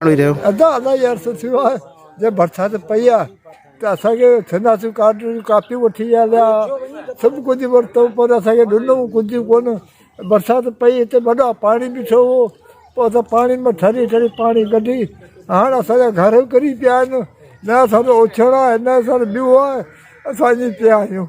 ادا ادا يار سو ٿيو آهي جي برسات پئي آهي ته اسان کي سنداسيون ڪارڊون جون ڪاپيون وٺي آيا سڀ ڪجهه ورتو پر اسان کي ڏنو ڪجهه ڪون برسات پئي هتي وڏا پاڻي بيٺو هو پوء اسان پاڻي مان ٺري ٺري پاڻي ڪڍي هاڻ اسان جا گهر ڪري پيا آهن نه اسان جو اوڇڻ آهي نه اسان جو ٻيو آهي اسان ائين پيا آهيون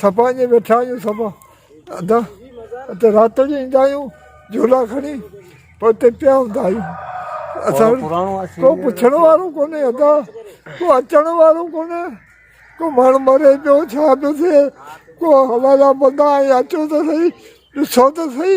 سپا اڃي ويٺا آهيون سپا ادا اتي رات جو ايندا آهيون جهولا کڻي پوء اتي پيا هوندا آهيون اسان ڪو پڇڻ وارو ڪونهي ادا ڪو اچڻ وارو ڪونهي ڪو ماڻهو مري پيو ڇا پيو ٿئي ڪو هوائي جا بندا آهي اچو ته سهي ڏسو ته سهي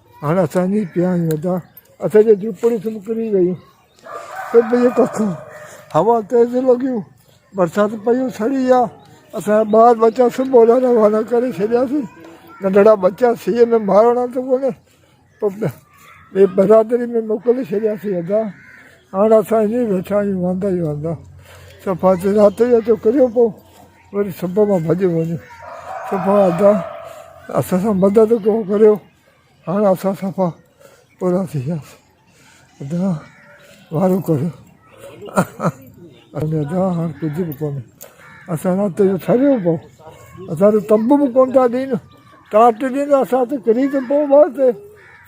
هاڻ اسان جي پيا آهن ادا. اسان جون جهوپڙيون سڀ ڪري ويون. سڀ جون ڪکون. هوا تيز لڳيون. برسات پيو سڙي ويا. اسان جا ٻار ٻچا سڀ هوڏانهن روانا ڪري ڇڏياسين. ننڍڙا ٻچا سيء ۾ مارڻا ته ڪونه پر ٻي برادري ۾ موڪلي ڇڏياسين ادا. هاڻ اسان ائين ئي ويٺا آهيون واندا ئي واندا. صفا رات جو اچو ڪريو پئون. وري سڀ مان ڀڄي وڃو صفا ادا اسان سان مدد ڪو ڪريو هاڻ اسان صفا پورا ٿي وياسين ادا وارو ڪريو ادا هاڻ ڪجهه به ڪونهي اسان رات جو ٺريو پئو اسان جو تنبو به ڪون ٿا ڏين ٽارچ ڏين اسان ته ڪري ته پئو بس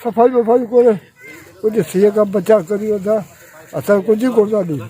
صفائي وفائي ڪري ڪجهه سيء کان بچاء ڪريو ادا اسان ڪجهه ڪون ٿا ڏيون